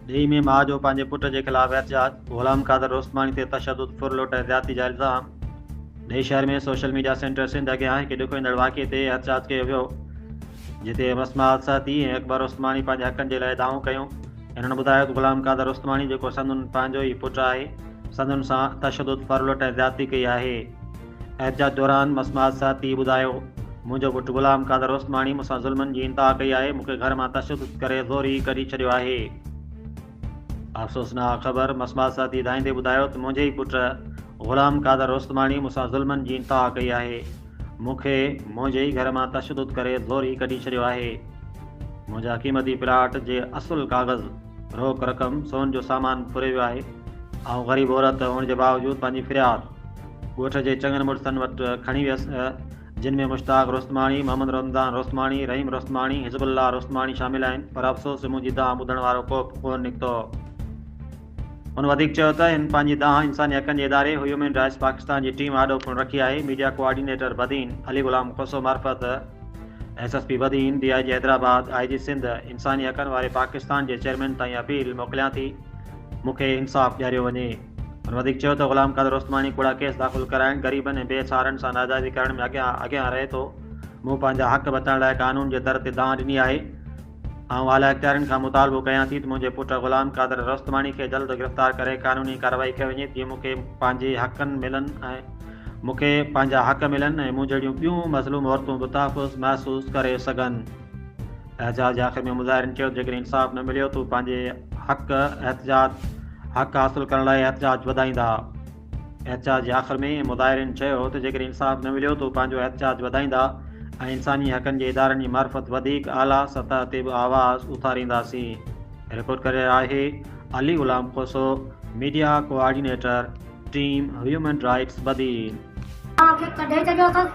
ڊيهي ۾ ماء جو پنهنجي پٽ جي خلاف احتجاج، غلام قادر رستماڻي تي تشدد، ڦر لوٽ ۽ زيادتي جا الزام. ڊيهي شهر ۾ سوشل ميڊيا سينٽر سنڌ اڳيان هڪ ڏکو ايندڙ واقعي تي احتجاج ڪيو ويو، جتي رسما السهتي ۽ اڪبر رستماڻي پنهنجي حقن جي لاء دانهون ڪيون. هنن ٻڌايو ته غلام قادر رستماڻي جيڪو سندن پنهنجو ئي پٽ آهي، سندن سان تشدد، ڦر لوٽ ۽ زيادتي ڪئي آهي. احتجاج دوران مسماحت ساٿي ٻڌايو، منهنجو پٽ غلام قادر عثماڻي مون سان ظلمن جي انتها ڪئي آهي، مون کي گهر مان تشدد ڪري زوري ڪڍي ڇڏيو آهي. افسوسناڪ خبر، مسماحت ساٿي ڌائيندي ٻڌايو ته منهنجي ئي پٽ غلام قادر عثماڻي مون سان ظلمن جي انتها ڪئي آهي، مون کي منهنجي ئي گهر مان تشدد ڪري زوري ڪڍي ڇڏيو آهي، منهنجا قيمتي پلاٽ جي اصل ڪاغذ، روڪ رقم، سون جو سامان ڦري ويو آهي، آئون غريب عورت هئڻ جي باوجود پنهنجي فرياد. ڳوٺ جي چڱن مڙسن وٽ کڻي ويس، جن ۾ مشتاق روستماڻي، محمد رمضان روستماڻي، رحيم روستماڻي، حزب الله روستماڻي شامل آهن، پر افسوس جو منهنجي دانهن ٻڌڻ وارو ڪو به ڪونه نڪتو. هن وڌيڪ چيو ته هن پنهنجي دانهن انساني حقن جي اداري هيومن رائٽس پاڪستان جي ٽيم آڏو پڻ رکي آهي، ميڊيا ڪوآرڊينيٽر بدين، علي غلام کوسو معرفت، S S P Badin, D I G Hyderabad, I G Sindh, انساني حقن واري پاڪستان جي چيئرمين تائين اپيل موڪليان ٿي مون کي انصاف ڏياريو وڃي. هن وڌيڪ چيو ته غلام قادر عثماني ڪوڙا ڪيس داخل ڪرائڻ، غريبن ۽ بي سهارن سان ناجائزي ڪرڻ ۾ اڳيان اڳيان رهي ٿو، مون پنهنجا حق بچائڻ لاء قانون جي در تي دانهن ڏني آهي، آئون اعليٰ اختيارين کان مطالبو ڪيان ٿي ته منهنجي پٽ غلام قادر رستماڻي کي جلد گرفتار ڪري قانوني ڪارروائي ڪئي وڃي جيئن مون کي پنهنجي حقن ملن ۽ مون کي پنهنجا حق ملن ۽ مون جهڙيون ٻيون مظلوم عورتون به تحفظ محسوس ڪري سگهن. احتجاج جي آخر ۾ مظاهرين چيو ته جيڪڏهن انصاف نه مليو ته هو پنهنجي حق احتجاج حق حاصل ڪرڻ لاء احتجاج وڌائيندا احتجاج جي آخر ۾ مظاهرين چيو ته جيڪڏهن انصاف نه مليو ته هو پنهنجو احتجاج وڌائيندا ۽ انساني حقن جي ادارن جي معرفت وڌيڪ اعليٰ سطح تي به آواز اٿارينداسين رپورٽ ڪري رهيو آهي Ali Ghulam Khoso media coordinator team human rights Badin. آء کي ڪڍي ڇڏيو اٿس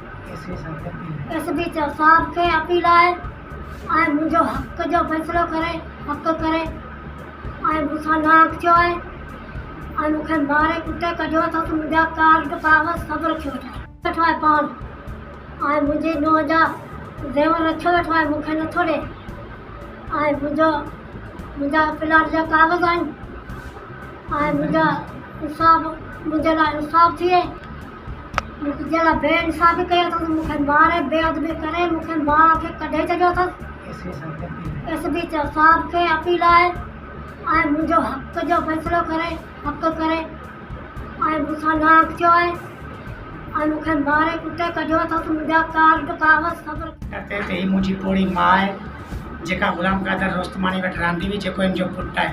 ايس پي چيو صاحب کي اپيل آهي ۽ منهنجو حق جو فيصلو ڪري حق ڪري ۽ مون سان ناحق ٿيو آهي ۽ مون کي ماري ڪٽي ڪڍيو اٿس منهنجا ڪارڊ ڪاغذ سڀ رکيو ويٺو آهي ويٺو آهي پاڻ ۽ منهنجي نونهن جا زيور رکيو ويٺو آهي مون کي نٿو ڏي ۽ منهنجو منهنجا پلاٽ جا ڪاغذ آهن. آهي منهنجا انصاف منهنجي لاء انصاف ٿئي منهنجي لاء بي انصافي ڪئي اٿن مون کي ماري بي ادبي ڪري مون کي ماء کي ڪڍي ڇڏيو اٿن ايس پي صاحب کي اپيل آهي آء منهنجو حق جو فيصلو ڪري حق ڪري آء مون سان نانء ٿيو آهي آء مون کي ماري ڪٽي ڪڍيو اٿن ته منهنجا ڪارڊ ڪاغذ سڀ ٽپي تي هي منهنجي پوڙهي ماء آهي جيڪا غلام قادر روستماڻي وٽ رهندي هئي جيڪو هن جو پٽ آهي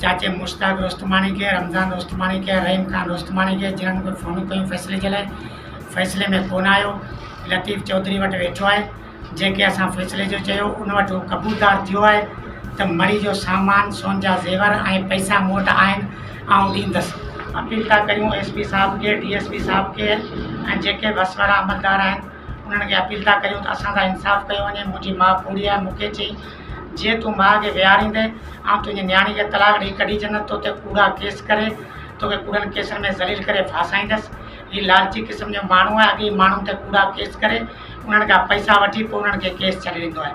چاچي مشتاق رستماڻي کي، رمضان رستماڻي کي ۽ رحيم خان رستماڻي کي جنھن به فونون ڪيون فيصلي جي لاء فيصلي ۾ ڪو نه آيو، لطيف چوڌري وٽ ويٺو آھي جنھنکي اسان فيصلي جو چيو ان وٽ ھو قبولدار ٿيو آھي ته مڙھي جو سامان، سون جا زيور ۽ پئسا مون وٽ آھن آئون ڏيندس. اپيل ٿا ڪريون ايس پي صاحب کي، ڊي ايس پي صاحب کي ۽ جيڪي به وس وارا عملدار آھن انھن کي اپيل ٿا ڪريون ته اسان سان انصاف ڪيو وڃي، منھنجي ماء پوڙھي آھي مون کي چيائين جيئن تون ماء کي ويهاريندين، آئون تنهنجي نياڻي کي طلاق ڏيئي ڪڍي ڇڏندس، تو تي ڪوڙا ڪيس ڪري، توکي ڪوڙن ڪيسن ۾ ذليل ڪري ڦاسائيندس. هي لالچي قسم جو ماڻهو آهي، اڳي ئي ماڻهن تي ڪوڙا ڪيس ڪري، انهن کان پئسا وٺي پوء انهن کي ڪيس ڇڏي ڏيندو آهي.